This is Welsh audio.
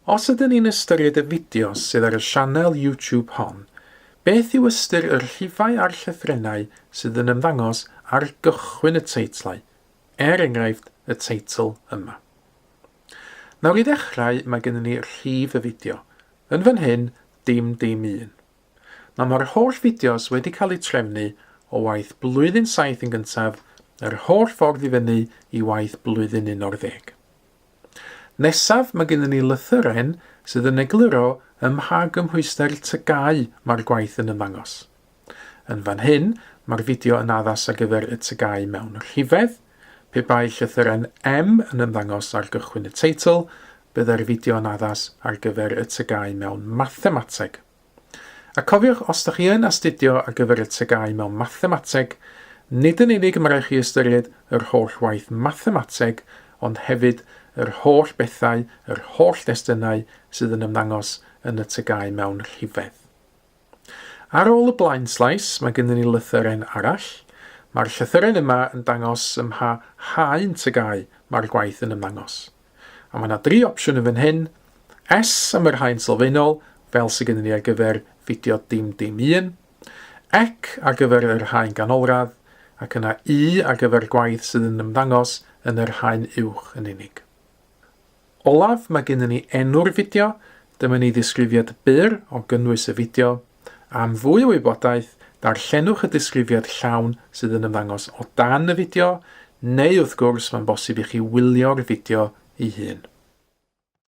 Os ydyn ni'n ystyried y fideos sydd ar y sianel YouTube hon, beth yw ystyr y rhifau a'r llythrennau sydd yn ymddangos ar gychwyn y teitlau, er enghraifft y teitl yma. Nawr i ddechrau mae gennym ni rhif y fideo, yn fan hyn dim dim un. Mae mae'r holl fideos wedi cael eu trefnu o waith blwyddyn saith yn gyntaf yr holl ffordd i fyny i waith blwyddyn 11. Nesaf mae gennym ni lythyren sydd yn egluro ym mha gymhwyster tygau mae'r gwaith yn ymddangos. Yn fan hyn mae'r fideo yn addas ar gyfer y tygau mewn rhifedd, pe bai llythyren M yn ymddangos ar gychwyn y teitl, byddai'r fideo yn addas ar gyfer y tygau mewn mathemateg. A cofiwch, os da chi yn astudio ar gyfer y TGAU mewn Mathemateg, nid yn unig y mae rhaid chi ystyried yr holl waith Mathemateg, ond hefyd yr holl bethau, yr holl destunau sydd yn ymddangos yn y TGAU mewn rhifedd. Ar ôl y blaenslais, mae gennym ni lythyren arall. Mae'r llythyren yma yn dangos ym mha haen TGAU mae'r gwaith yn ymddangos. A mae yna dri opsiwn yn fan hyn, S am y rhain sylfaenol, fel sydd gennym ni ar gyfer fideo dim dim un, Ec ar gyfer yr rhain ganolradd, ac yna Y ar gyfer gwaith sydd yn ymddangos yn yr rhain uwch yn unig. Olaf, mae gennym ni enw'r fideo, dyma ni ddisgrifiad byr o gynnwys y fideo, Am fwy o wybodaeth, darllenwch y disgrifiad llawn sydd yn ymddangos o dan y fideo, neu wrth gwrs mae'n bosib i chi wylio'r fideo ei hun.